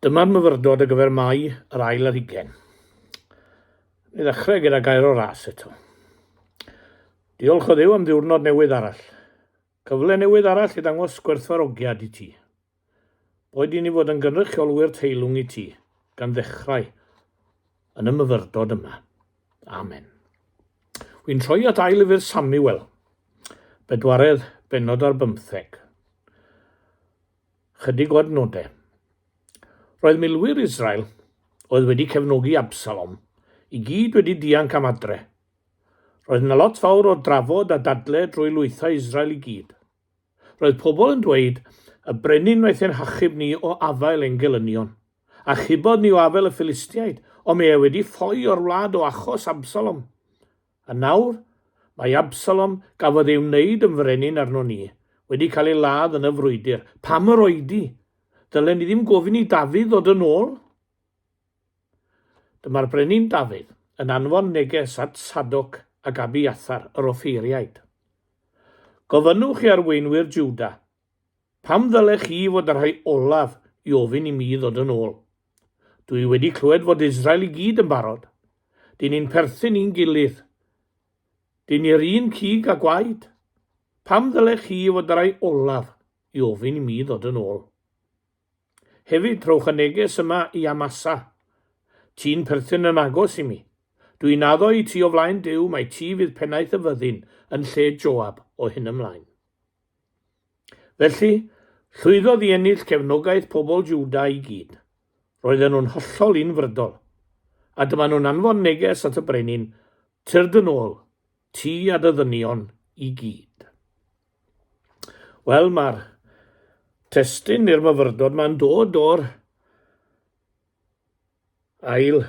Dyma'r myfyrdod ar gyfer Mai yr ail ar hugen. I ddechrau gyda gair o ras eto. Diolch o ddew am ddiwrnod newydd arall. Cyfle newydd arall i ddangos gwerthfarogiad i ti. Boed i ni fod yn gynrychiolwyr teilwng i ti, gan ddechrau yn y myfyrdod yma. Amen. Wy'n troi at ail lyfr Samuel, bedwaredd benod ar bymtheg. Chydig o adnodau. Roedd milwyr Israel, oedd wedi cefnogi Absalom, i gyd wedi dianc am adre. Roedd yna lot fawr o drafod a dadle drwy lwythau Israel i gyd – Roedd pobl yn dweud, Y brenin wnaeth ein hachub ni o afael ein gelynion. Achubodd ni o afael y Philistiaid, ond mae e wedi ffoi o'r wlad o achos Absalom. A nawr, mae Absalom, gafodd ei wneud yn frenin arnon ni, wedi cael ei ladd yn y frwydr. Pam yr oedi? Ddylen ni ddim gofyn i Dafydd ddod yn ôl? Dyma'r brenin Dafydd yn anfon neges at Sadoc ac Abiathar yr offeiriaid, Gofynnwch i arweinwyr Jwda, Pam ddylech chi fod yn rhai olaf i ofyn i mi ddod yn ôl? Dw i wedi clywed fod Israel i gyd yn barod. Dŷn ni'n perthyn i'n gilydd. Dŷn ni'r un cig a gwaed. Pam ddylech chi fod yn rhai olaf i ofyn i mi ddod yn ôl? Hefyd, rhowch y neges yma i Amasa, Ti'n perthyn yn agos i mi. Dwi'n addo i ti o flaen Duw mai ti fydd pennaeth y fyddin yn lle Joab o hyn ymlaen. Felly, llwyddodd i ennill cefnogaeth pobl Juda i gyd. Roedden nhw'n hollol unfrydol. A dyma nhw'n anfon neges at y brenin, Tyrd yn ôl, ti a dy ddynion i gyd. Wel, mae'r testun i'r myfyrdod mae'n dod o'r ail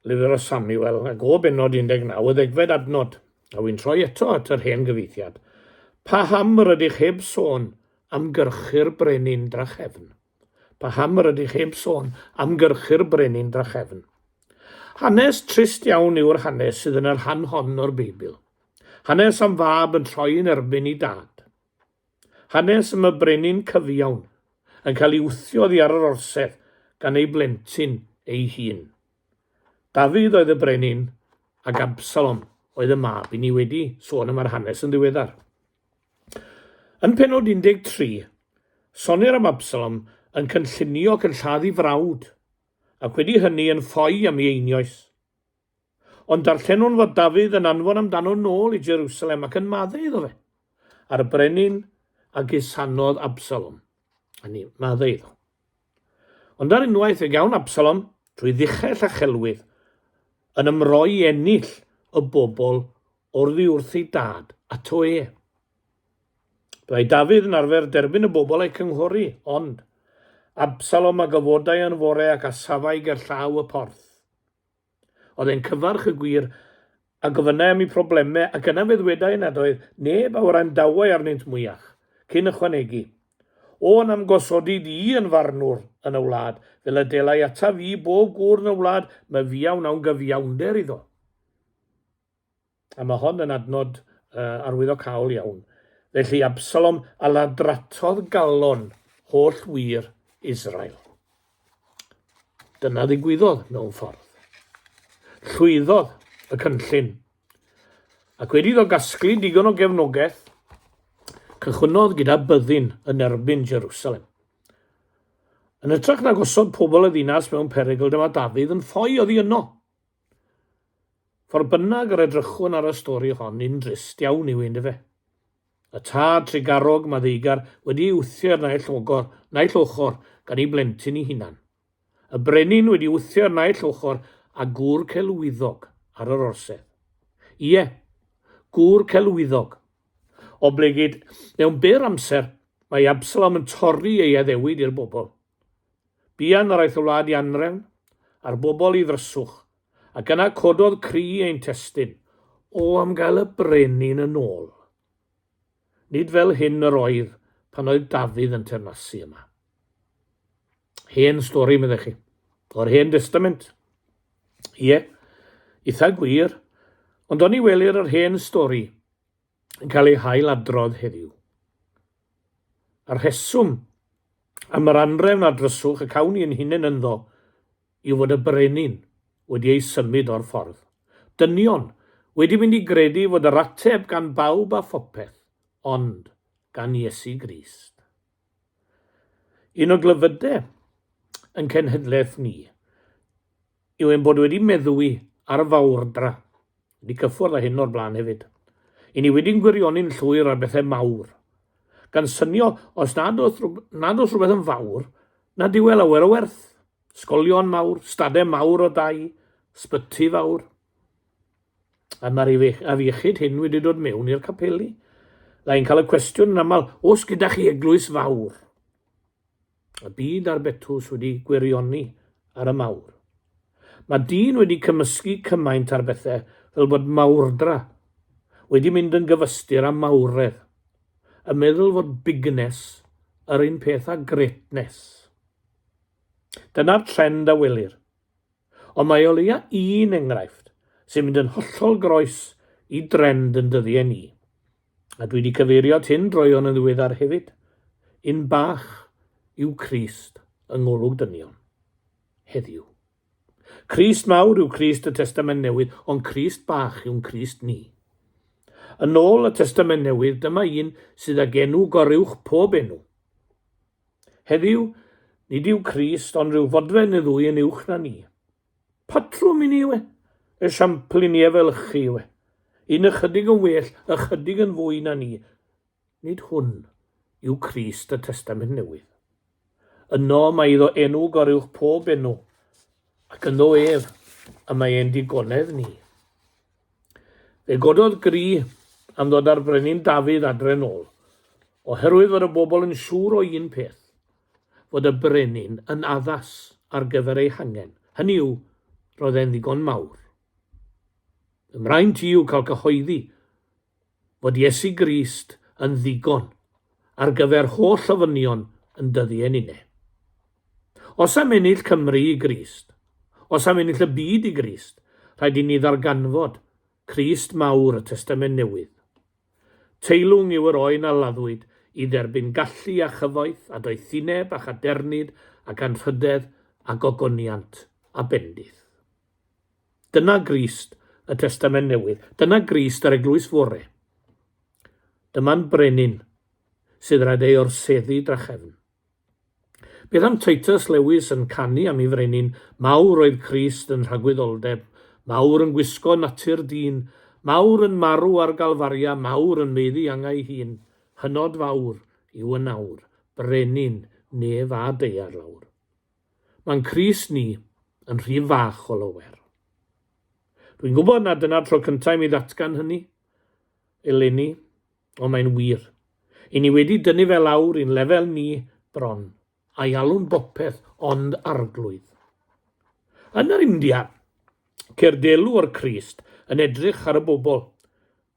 lyfr o Samuel, ac o benod 19, y ddegfed adnod, a wy'n troi eto at yr hen gyfeithiad. Pa ham yr ydych heb sôn am gyrchu'r brenin drachefn? Paham yr ydych heb sôn am gyrchu'r brenin drachefn? Hanes trist iawn yw'r hanes sydd yn y rhan hon o'r Beibl. Hanes am fab yn troi yn erbyn i dad. Hanes am y brenin cyfiawn yn cael ei wthio oddi ar yr orsedd gan ei blentyn ei hun. Dafydd oedd y brenin ac Absalom oedd y mab. I ni wedi sôn am yr hanes yn ddiweddar. Yn pennod 13, sonnir am Absalom yn cynllunio ac yn lladd ei frawd, ac wedi hynny yn ffoi am ei einioes. Ond darllenwn fod Dafydd yn anfon amdano nôl i Jerusalem ac yn maddu iddo fe, a'r brenin a gusanodd Absalom, hynny yw, maddu iddo. Ond ar unwaith fe gawn Absalom, trwy ddichell a chelwydd, yn ymroi i ennill y bobl oddi wrth ei dad, ato e. Byddai Dafydd yn arfer derbyn y bobl a'i cynghori, ond Absalom a gyfodai yn fore ac asafai gerllaw y porth. Oedd e'n cyfarch y gwir, a gofynnai am eu problemau, ac yna fe ddwedai nad oedd neb a orai'n dawai arnynt mwyach, cyn ychwanegu, O, na'm gosodi di i yn farnwr yn y wlad, fel y delai ataf i bob gŵr yn y wlad, myfia wnawn gyfiawnder iddo. A mae hon yn adnod uh, arwyddocaol iawn. Felly Absalom a ladratodd galon holl wir Israel. Dyna ddigwyddodd mewn ffordd. Llwyddodd y cynllun. Ac wedi iddo gasglu digon o gefnogaeth, cychwynnodd gyda byddin yn erbyn Jerusalem. Yn ytrach na gosod pobl y ddinas mewn perygl, dyma Dafydd yn ffoi oddi yno. Fo'r bynnag yr edrychwn ar y stori hon yn drist iawn yw un dyfe. Y tad trugarog maddeugar wedi ei wthio i'r naill ogor, naill ochr gan ei blentyn ei hunan. Y brenin wedi wthio i'r naill ochr a gŵr celwyddog ar yr orsedd. Ie, gŵr celwyddog. Oblegid, mewn byr amser, mae Absalom yn torri ei addewid i'r bobl. Buan yr aeth y wlad i anrefn, a'r bobl i ddryswch, ac yna cododd cri ein testyn. O am gael y brenin yn ôl! Nid fel hyn yr oedd pan oedd Dafydd yn teyrnasu yma. Hen stori, meddech chi, o'r Hen Destament. Ie, eitha gwir, ond oni welir yr hen stori, yn cael ei hail-adrodd heddiw. A'r rheswm am yr anrefn a dryswch y cawn ni yn hunain ynddo yw fod y brenin wedi ei symud o'r ffordd. Dynion wedi mynd i gredu fod yr ateb gan bawb a phopeth, ond gan Iesu Grist. Un o glyfydau yn cenhedlaeth ni yw ein bod wedi meddwi ar y fawrdra, wedi cyffwrdd â hyn o'r blaen hefyd, i ni wedi'n gwirioni'n llwyr ar bethau mawr, gan synio os nad oes, nad oes rhywbeth yn fawr, nad yw e lawer o werth. Sgolion mawr, stadau mawr o dai, sbyty fawr. A mae'r afiechyd hyn wedi dod mewn i'r capeli. Lai'n cael y cwestiwn yn aml, os gyda chi eglwys fawr? Y byd a'r betws wedi gwirioni ar y mawr. Mae dyn wedi cymysgu cymaint ar bethau fel bod mawrdra wedi mynd yn gyfystyr â mawredd, yn meddwl fod bigness yr un peth â greatness. Dyna'r trend a welir. Ond mae o leia un enghraifft sy'n mynd yn hollol groes i drend yn dyddiau ni. A dwi wedi cyfeirio at hyn droeon yn ddiweddar hefyd, un bach yw Crist yng ngolwg dynion, heddiw. Crist mawr yw Crist y Testament Newydd, ond Crist bach yw'n Crist ni. Yn ôl y Testament Newydd, dyma un sydd ag enw goruwch pob enw. Heddiw, nid yw Crist ond rhyw fodfen neu ddwy yn uwch na ni. Patrwm i ni yw e. Esiampl i ni efelychu yw e. Un ychydig yn well, ychydig yn fwy na ni. Nid hwn yw Crist y Testament Newydd. Yno mae iddo enw goruwch pob enw, ac ynddo ef y mae ein digonedd ni. Fe gododd gri am ddod â'r brenin Dafydd adre'n ôl, oherwydd fod y bobl yn siŵr o un peth, fod y brenin yn addas ar gyfer ei hangen, hynny yw, roedd e'n ddigon mawr. Fy mraint i yw cael cyhoeddi fod Iesu Grist yn ddigon ar gyfer holl ofynion yn dyddi ein une. Os am ennill Cymru i Grist, os am ennill y byd i Grist, rhaid i ni ddarganfod Crist mawr y Testament Newydd. Teilwng yw yr oen a laddwyd i dderbyn gallu a chyfoeth a doethineb a chadernid ac anrhydedd a gogoniant a bendith. Dyna Grist y Testament Newydd. Dyna Grist yr Eglwys Fore. Dyma'n Brenin sydd rhaid ei orseddu drachefn. Beth am Titus Lewis yn canu am ei frenin mawr oedd Crist yn rhagwyddoldeb mawr yn gwisgo natur dyn mawr yn marw ar Galfaria mawr yn meiddi angau hun hynod fawr yw yn awr brenin nef a deiar lawr Mae'n Crist ni yn rhy fach o lawer Dwi'n gwybod nad dyna'r tro cyntaf i mi ddatgan hynny eleni Ond mae'n wir. I ni wedi dynnu fe lawr i'n lefel ni bron, a'i alw'n bopeth ond arglwydd. Yn yr India, ceir delw o'r Crist yn edrych ar y bobl.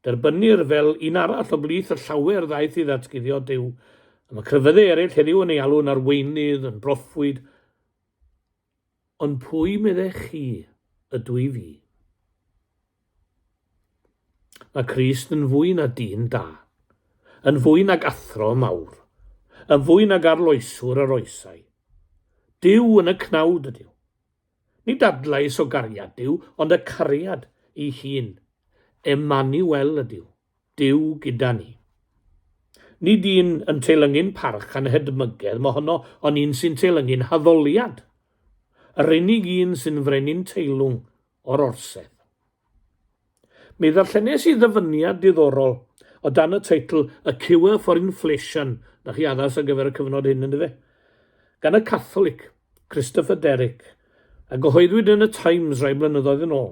Derbynnir fel un arall o blith y llawer ddaeth i ddatguddio Duw, y mae crefyddau eraill heddiw yn ei alw'n arweinydd, yn broffwyd, Ond pwy meddech chi ydw i fi? Mae Crist yn fwy na dyn da, yn fwy nag athro mawr, yn fwy nag arloeswr yr oesau. Dyw yn y cnawd ydyw. Nid adlais o gariad dyw, ond y cariad ei hun. Emmanuel ydyw. Duw gyda ni. Nid un yn teilyngu'n parch a'n hedmygedd mohono, ond un sy'n teilyngu'n haddoliad. Yr unig un sy'n frenin teilwng o'r orsedd. Mi ddarllenes i ddyfyniad diddorol o dan y teitl A Cure for Inflation, na chi addas ar gyfer y cyfnod hyn yndyfe? gan y Catholic, Christopher Derrick, a gyhoeddwyd yn y Times rai blynyddoedd yn ôl.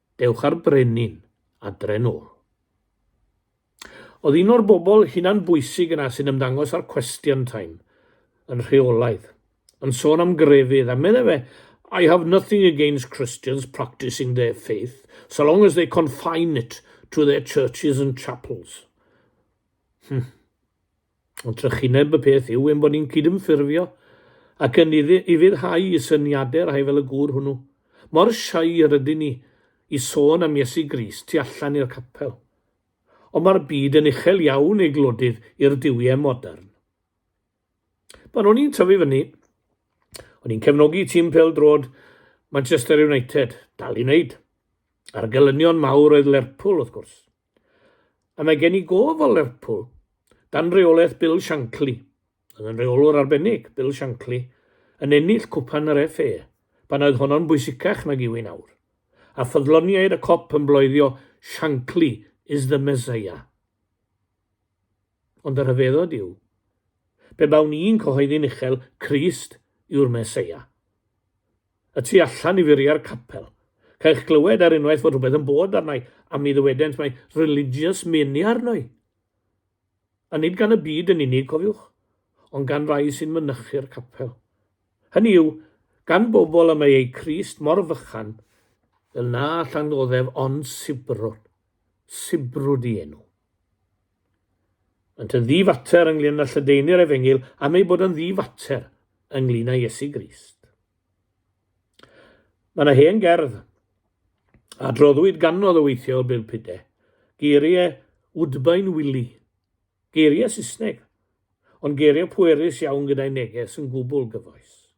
Dewch â'r brenin adre nôl. Oedd un o'r bobl hunan bwysig yna sy'n ymddangos ar Question Time yn rheolaidd, yn sôn am grefydd, a meddai fe, I have nothing against Christians practising their faith, so long as they confine it to their churches and chapels. Hmm. Ond trychineb y peth yw ein bod ni'n cydymffurfio ac yn ufuddhau i syniadau rhai fel y gŵr hwnnw. Mor shy yr ydyn ni i sôn am Iesu Grist tu allan i'r capel. Ond mae'r byd yn uchel iawn, ei glodydd, i'r duwiau modern. Pan o'n i'n tyfu fyny, o'n i'n cefnogi tîm pêl-droed Manchester United, dal i wneud. A'r gelynion mawr oedd Lerpwl, wrth gwrs. A mae gen i gof o Lerpwl, dan reolaeth Bill Shankly, oedd yn reolwr arbennig, Bill Shankly, yn ennill cwpan yr FA, pan oedd honno'n bwysicach nag yw hi'n awr. A ffyddloniaid y Kop yn bloeddio 'Shankly is the Messiah'. Ond y rhyfeddod yw, pe bawn i'n cyhoeddi'n uchel 'Crist yw'r Messiah', Y tu allan i furiau'r capel. Cai'ch glywed ar unwaith fod rhywbeth yn bod arna i, a mi ddywedent mae religious mania arno i. A nid gan y byd yn unig, cofiwch, ond gan rai sy'n mynychu'r capel. Hynny yw, gan bobl y mae eu Crist mor fychan, fel na allan ddoddef ond sibrwd, sibrwd i enw. Ynt yn ddi-fater ynglŷn â lledaenu'r efengyl am ei bod yn ddi-fater ynglŷn â Iesu Grist. Mae yna hen gerdd a droddwyd ganodd o weithiau o Bill Pide, geiriau Woodbine Willie, geiriau Saesneg, ond geiriau pwerus iawn gyda'i neges yn gwbl gyfoes.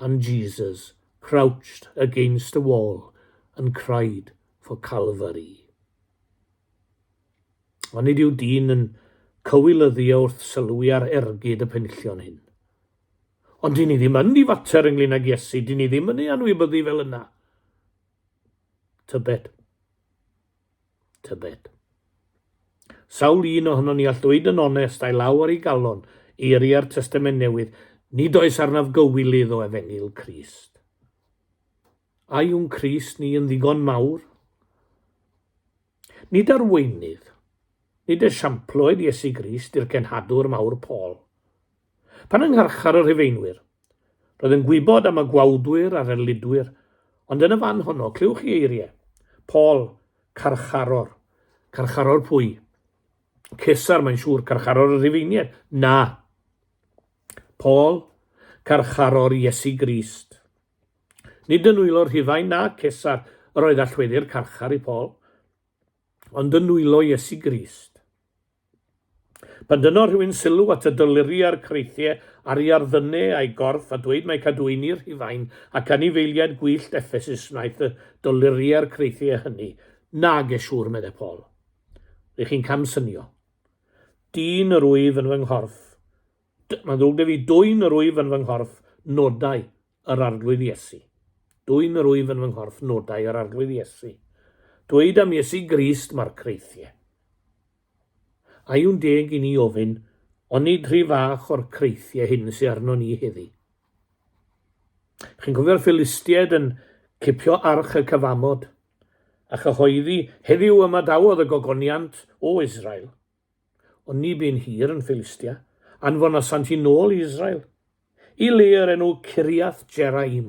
and Jesus crouched against a wall and cried for Calvary. Ond nid yw dyn yn cywilyddio wrth sylwi ar ergyd y penllion hyn. Ond dyn ni ddim yn difater ynglyn ag Iesu, dyn ni ddim yn ei anwybyddu fel yna. Tybed. Tybed. Sawl un ohonon ni all ddweud yn onest a'i law ar ei galon, eiriau'r Testament Newydd, nid oes arnaf gywilydd o efengyl Crist. A yw'n Crist ni yn ddigon mawr? Nid arweinydd, nid esiamploed Iesu Grist i'r cenhadwr mawr Paul. Pan yng ngharchar y Rhufeinwyr, roedd yn gwybod am y gwawdwyr a'r erlidwyr, ond yn y fan honno, clywch chi eiriau. Paul, carcharor. Carcharor pwy? Cesar, mae'n siŵr, carcharor y Rhufeiniaid. Na. Paul, carcharor Iesu Grist. Nid yn wylo'r Rhufain na Cesar yr oedd allweddi'r carchar i Paul. ond yn nwylo Iesu Grist. Pan dynno rhywun sylw at y dolyru a'r creithiau ar ei arddyne a'i gorff a dweud mae cadwyni Rhufain ac anifeiliaid gwyllt Effesus wnaeth y dolyru a'r creithiau hynny, nage siŵr, meddai Paul. Rych chi'n camsynio. Dyn yr wyf yn fy nghorff. D mae'n ddrwg da fi, dwyn yr wyf yn fy nghorff, nodau, yr Arglwydd Iesu. Dwyn yr wyf yn fy nghorff nodau yr Arglwydd Iesu. Dweud am Iesu Grist mae'r creithiau. A yw'n deg i ni ofyn, onid rhy fach o'r creithiau hyn sy'n arno ni heddi? Chi'n cofio'r Philistiaid yn cipio arch y cyfamod, a chyhoeddi, heddiw yma dawodd y gogoniant o Israel. Ond ni bu'n hir yn Philistia, anfonasant hi'n ôl i Israel, i le yr enw Ciriath Jeraim.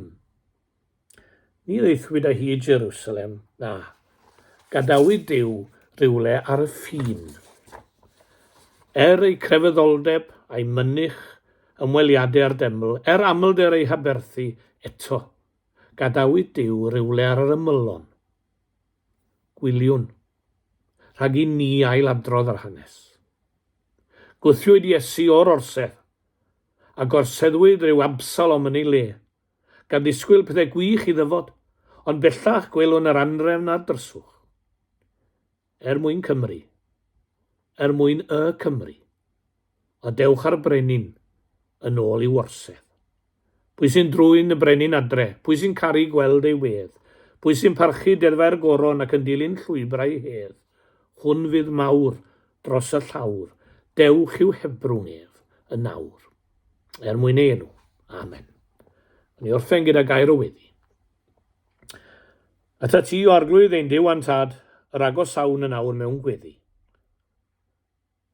Ni ddeithwyd â hi i Jerusalem, na, gadawyd Dyw rywle ar y ffin. Er ei crefyddoldeb a'i mynych ymweliadau â'r deml, er amlder ei haberthu eto, gadawyd Dyw rywle ar yr ymylon. Gwyliwn, rhag i ni ailadrodd yr hanes. Gwthiwyd Iesu o'r orsedd, a gorseddwyd rhyw Absalom yn ei le, gan ddisgwyl pethau gwych i ddyfod, ond bellach gwelwn yr anrefn a'r dryswch. Er mwyn Cymru. Er mwyn y Cymry. a dewch â'r brenin yn ôl i'w orsedd. Pwy sy'n drwyn y brenin adre? Pwy sy'n caru gweld ei wedd? Pwy sy'n parchu deddfau'r goron ac yn dilyn llwybrau hedd? Hwn fydd mawr dros y llawr, dewch i'w hebrwng ef yn nawr. Er mwyn ei enw. Amen. Yn ei orffen gyda gair o weddi. Ata ti o arglwydd ein Duw a'n Tad, yr agosawn yn awr mewn gweddi.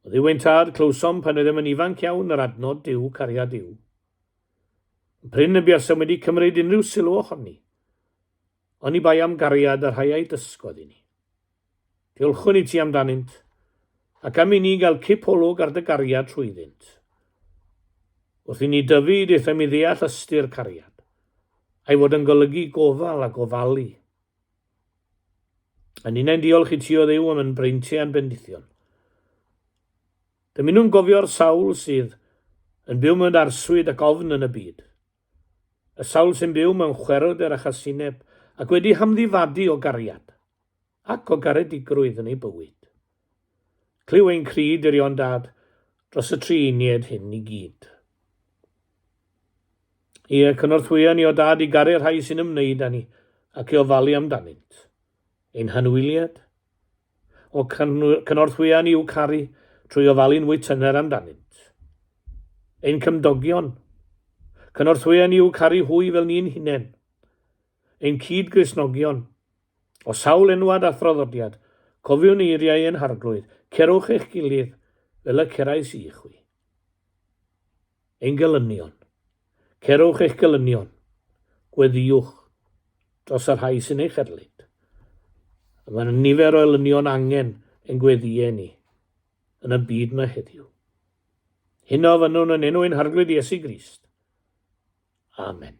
Oedd Iw ein tad, clywsom pan oeddem yn ifanc iawn yr adnod Duw, cariad Iw. Yn prin y buasem wedi cymryd unrhyw sylw ohoni, oni bai am gariad a rhai a'i dysgodd i ni. Diolchwn i ti amdanynt, ac am i ni gael cip olwg ar dy gariad trwyddynt. Wrth i ni dyfu, daethom i ddeall ystyr cariad, a'i fod yn golygu gofal a gofalu. A ninnau'n diolch i ti o ddew am yn breinti a'n bendithion. Dymunwn gofio'r sawl sydd yn byw mewn arswyd ac ofn yn y byd. Y sawl sy'n byw mewn chwerwder a chasineb ac wedi hamddifadu o gariad ac o garedigrwydd yn eu bywyd. Clyw ein cri dirion dad dros y tri unied hyn i gyd. Ie, cynorthwya ni o dad i garu'r rhai sy'n ymwneud â ni ac i ofalu amdanynt. Ein hanwyliad? O cynorthwya ni i'w caru trwy ofalu'n fwy tyner amdanynt. Ein cymdogion? Cynorthwya ni i'w caru hwy fel ni'n hunain. ein cyd-Gristnogion. O sawl enwad a thraddodiad, cofiwn eiriau ein Harglwydd, Cerwch eich gilydd fel y cerais i chwi. Ein gelynion. Cerwch eich gelynion. Gweddiwch dros y rhai sy'n eich erlid. Mae nifer o elynion angen ein gweddiau ni. yn y byd mae heddiw. Hyn o fynnwn yn enw ein harglwydd Iesu Grist. Amen.